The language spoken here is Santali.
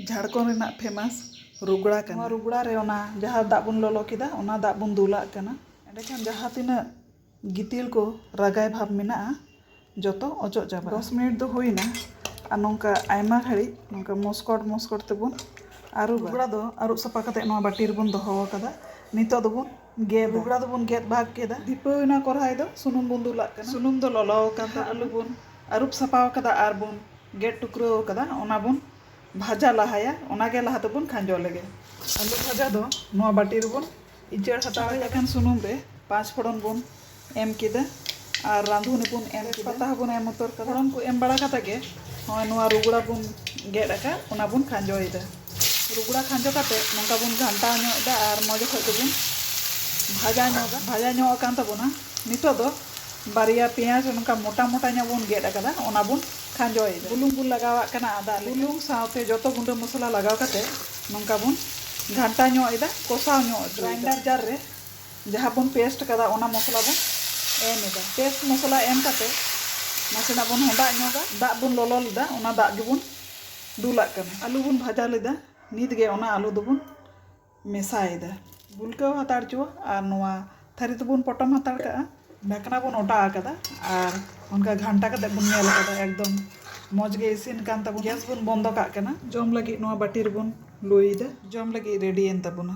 ᱡᱷᱟᱲᱠᱷᱚᱸᱰ ᱨᱮᱱᱟᱜ ᱯᱷᱮᱢᱟᱥ ᱨᱩᱜᱽᱲᱟ ᱠᱟᱱᱟ᱾ ᱱᱚᱣᱟ ᱨᱩᱜᱽᱲᱟ ᱨᱮ ᱚᱱᱟ ᱡᱟᱦᱟᱸ ᱫᱟᱜ ᱵᱚᱱ ᱞᱚᱞᱚ ᱠᱮᱫᱟ ᱚᱱᱟ ᱫᱟᱜ ᱵᱚᱱ ᱫᱩᱞᱟᱜ ᱠᱟᱱᱟ᱾ ᱮᱸᱰᱮ ᱠᱷᱟᱱ ᱡᱟᱦᱟᱸ ᱛᱤᱱᱟᱹᱜ ᱜᱤᱛᱤᱞ ᱠᱚ ᱨᱟᱜᱟᱭ ᱵᱷᱟᱵᱽ ᱢᱮᱱᱟᱜᱼᱟ ᱡᱚᱛᱚ ᱚᱪᱚᱜ ᱪᱟᱵᱟᱜᱼᱟ᱾ ᱫᱚᱥ ᱢᱤᱱᱤᱴ ᱫᱚ ᱦᱩᱭ ᱮᱱᱟ ᱟᱨ ᱱᱚᱝᱠᱟ ᱟᱭᱢᱟ ᱜᱷᱟᱹᱲᱤᱡ ᱱᱚᱝᱠᱟ ᱢᱚᱥᱠᱚᱴ ᱢᱚᱥᱠᱚᱴ ᱛᱮᱵᱚᱱ ᱟᱹᱨᱩᱵᱟ᱾ ᱨᱩᱜᱽᱲᱟ ᱫᱚ ᱟᱹᱨᱩᱵ ᱥᱟᱯᱷᱟ ᱠᱟᱛᱮ ᱱᱚᱣᱟ ᱵᱟᱹᱴᱤ ᱨᱮᱵᱚᱱ ᱫᱚᱦᱚ ᱟᱠᱟᱫᱟ᱾ ᱱᱤᱛᱚᱜ ᱫᱚᱵᱚᱱ᱾ ᱜᱮᱫᱟ᱾ ᱵᱚᱜᱽᱲᱟ ᱫᱚ ᱵᱚᱱ ᱜᱮᱫ ᱵᱷᱟᱜᱽ ᱠᱮᱫᱟ᱾ ᱫᱷᱤᱯᱟᱹᱣ ᱮᱱᱟ ᱠᱚᱨᱦᱟᱭ ᱫᱚ ᱥᱩᱱᱩᱢ ᱵᱚᱱ ᱫᱩᱞᱟᱜ ᱠᱟᱱᱟ᱾ ᱥᱩᱱᱩᱢ ᱫᱚ ᱞᱚᱞᱚ ᱟᱠᱟᱱ ᱛᱟᱵᱚᱱᱟ᱾ ᱟᱹᱞᱩ ᱵᱚᱱ ᱟᱹᱨᱩᱵ ᱥᱟᱯᱷᱟ ᱟᱠᱟᱫᱟ ᱟᱨ ᱵᱚᱱ ᱜᱮᱫ ᱴᱩᱠᱨᱟᱹᱣ ᱟᱠᱟᱫᱟ ᱚᱱᱟ ᱵᱚᱱ ᱵᱷᱟᱡᱟ ᱞᱟᱦᱟᱭᱟ ᱚᱱᱟ ᱜᱮ ᱞᱟᱦᱟ ᱫᱚ ᱵᱚᱱ ᱠᱷᱟᱸᱡᱚ ᱞᱮᱜᱮ᱾ ᱟᱹᱞᱩ ᱵᱷᱟᱡᱟ ᱫᱚ ᱱᱚᱣᱟ ᱵᱟᱹᱴᱤ ᱨᱮ ᱵᱚᱱ ᱤᱪᱟᱹᱲ ᱦᱟᱛᱟᱲ ᱟᱠᱟᱫᱟ᱾ ᱥᱩᱱᱩᱢ ᱨᱮ ᱯᱟᱸᱪ ᱯᱷᱚᱲᱚᱱ ᱵᱚᱱ ᱮᱢ ᱠᱮᱫᱟ ᱟᱨ ᱨᱟᱸᱫᱷᱩᱱᱤ ᱵᱚᱱ ᱮᱢ ᱠᱮᱫᱟ᱾ ᱛᱮᱡᱽᱯᱟᱛᱟ ᱦᱚᱸ ᱵᱚᱱ ᱮᱢ ᱩᱛᱟᱹᱨ ᱠᱟᱫᱟ᱾ ᱯᱷᱚᱲᱚᱱ ᱠᱚ ᱮᱢ ᱵᱟᱲᱟ ᱠᱟᱛᱮ ᱜᱮ ᱱᱚᱜᱼᱚᱭ ᱱᱚᱣᱟ ᱨᱩᱜᱽᱲᱟ ᱵᱚᱱ ᱜᱮᱫ ᱟᱠᱟᱫ ᱚᱱᱟ ᱵᱚᱱ ᱠᱷᱟᱸᱡᱚᱭᱮᱫᱟ᱾ ᱨᱩᱜᱽᱲᱟ ᱠᱷᱟᱸᱡᱚ ᱠᱟᱛᱮ ᱱᱚᱝᱠᱟ ᱵᱚᱱ ᱜᱷᱟᱱᱴᱟᱣ ᱧᱚᱜ ᱮᱫᱟ ᱟᱨ ᱢᱚᱡᱽ ᱚᱠᱚᱡ ᱛᱮᱵᱚᱱ ᱵᱷᱟᱡᱟ ᱧᱚᱜᱟ᱾ ᱵᱷᱟᱡᱟ ᱧᱚᱜ ᱟᱠᱟᱱ ᱛᱟᱵᱚᱱᱟ᱾ ᱱᱤᱛᱚᱜ ᱫᱚ ᱵᱟᱨᱭᱟ ᱯᱮᱸᱭᱟᱡᱽ ᱱᱚᱝᱠᱟ ᱢᱚᱴᱟ ᱢᱚᱴᱟ ᱧᱚᱜ ᱵᱚᱱ ᱜᱮᱫ ᱟᱠᱟᱫᱟ ᱚᱱᱟ ᱵᱚᱱ ᱠᱷᱟᱸᱡᱚᱭᱮᱫᱟ᱾ ᱵᱩᱞᱩᱝ ᱵᱚᱱ ᱞᱟᱜᱟᱣᱟᱜ ᱠᱟᱱᱟ ᱟᱫᱟᱜ ᱞᱮᱠᱟ᱾ ᱵᱩᱞᱩᱝ ᱥᱟᱶᱛᱮ ᱡᱚᱛᱚ ᱜᱩᱸᱰᱟᱹ ᱢᱚᱥᱞᱟ ᱞᱟᱜᱟᱣ ᱠᱟᱛᱮ ᱱᱚᱝᱠᱟ ᱵᱚᱱ ᱜᱷᱟᱱᱴᱟ ᱧᱚᱜ ᱮᱫᱟ, ᱠᱚᱥᱟᱣ ᱧᱚᱜ ᱚᱪᱚᱭᱮᱫᱟ᱾ ᱜᱨᱟᱭᱤᱱᱰᱟᱨ ᱡᱟᱨ ᱨᱮ᱾ ᱡᱟᱦᱟᱸ ᱵᱚᱱ ᱯᱮᱥᱴ ᱠᱟᱫᱟ ᱚᱱᱟ ᱢᱚᱥᱞᱟ ᱵᱚᱱ ᱮᱢ ᱮᱫᱟ ᱯᱮᱥᱴ ᱢᱚᱥᱞᱟ ᱮᱢ ᱠᱟᱛᱮ ᱱᱟᱥᱮᱱᱟᱜ ᱵᱚᱱ ᱦᱚᱸᱰᱟᱜ ᱧᱚᱜᱟ ᱫᱟᱜ ᱵᱚᱱ ᱞᱚᱞᱚ ᱞᱮᱫᱟ ᱚᱱᱟ ᱫᱟᱜ ᱜᱮᱵᱚᱱ ᱫᱩᱞᱟᱜ ᱠᱟᱱᱟ ᱟᱹᱞᱩ ᱵᱚᱱ ᱵᱷᱟᱡᱟ ᱞᱮᱫᱟ ᱱᱤᱛ ᱜᱮ ᱚᱱᱟ ᱟᱹᱞᱩ ᱫᱚᱵᱚᱱ ᱢᱮᱥᱟᱭᱮᱫᱟ ᱜᱩᱞᱠᱟᱹᱣ ᱦᱟᱛᱟᱲ ᱪᱚᱣᱟ ᱟᱨ ᱱᱚᱣᱟ ᱛᱷᱟᱹᱨᱤ ᱫᱚᱵᱚᱱ ᱯᱚᱴᱚᱢ ᱦᱟᱛᱟᱲ ᱠᱟᱜᱼᱟ ᱰᱷᱟᱠᱱᱟ ᱵᱚᱱ ᱚᱴᱟ ᱟᱠᱟᱫᱟ ᱟᱨ ᱚᱱᱠᱟ ᱜᱷᱟᱱᱴᱟ ᱠᱟᱛᱮ ᱵᱚᱱ ᱧᱮᱞ ᱟᱠᱟᱫᱟ ᱮᱠᱫᱚᱢ ᱢᱚᱡᱽ ᱜᱮ ᱤᱥᱤᱱ ᱠᱟᱱ ᱛᱟᱵᱚᱱᱟ ᱜᱮᱥ ᱵᱚᱱ ᱵᱚᱱᱫᱚ ᱠᱟᱜ ᱠᱟᱱᱟ ᱡᱚᱢ ᱞᱟᱹᱜᱤᱫ ᱱᱚᱣᱟ ᱵᱟᱹᱴᱤ ᱨᱮᱵᱚᱱ ᱞᱩᱭᱮᱫᱟ ᱡᱚᱢ ᱞᱟᱹᱜᱤᱫ ᱨᱮᱰᱤᱭᱮᱱ ᱛᱟᱵᱚᱱᱟ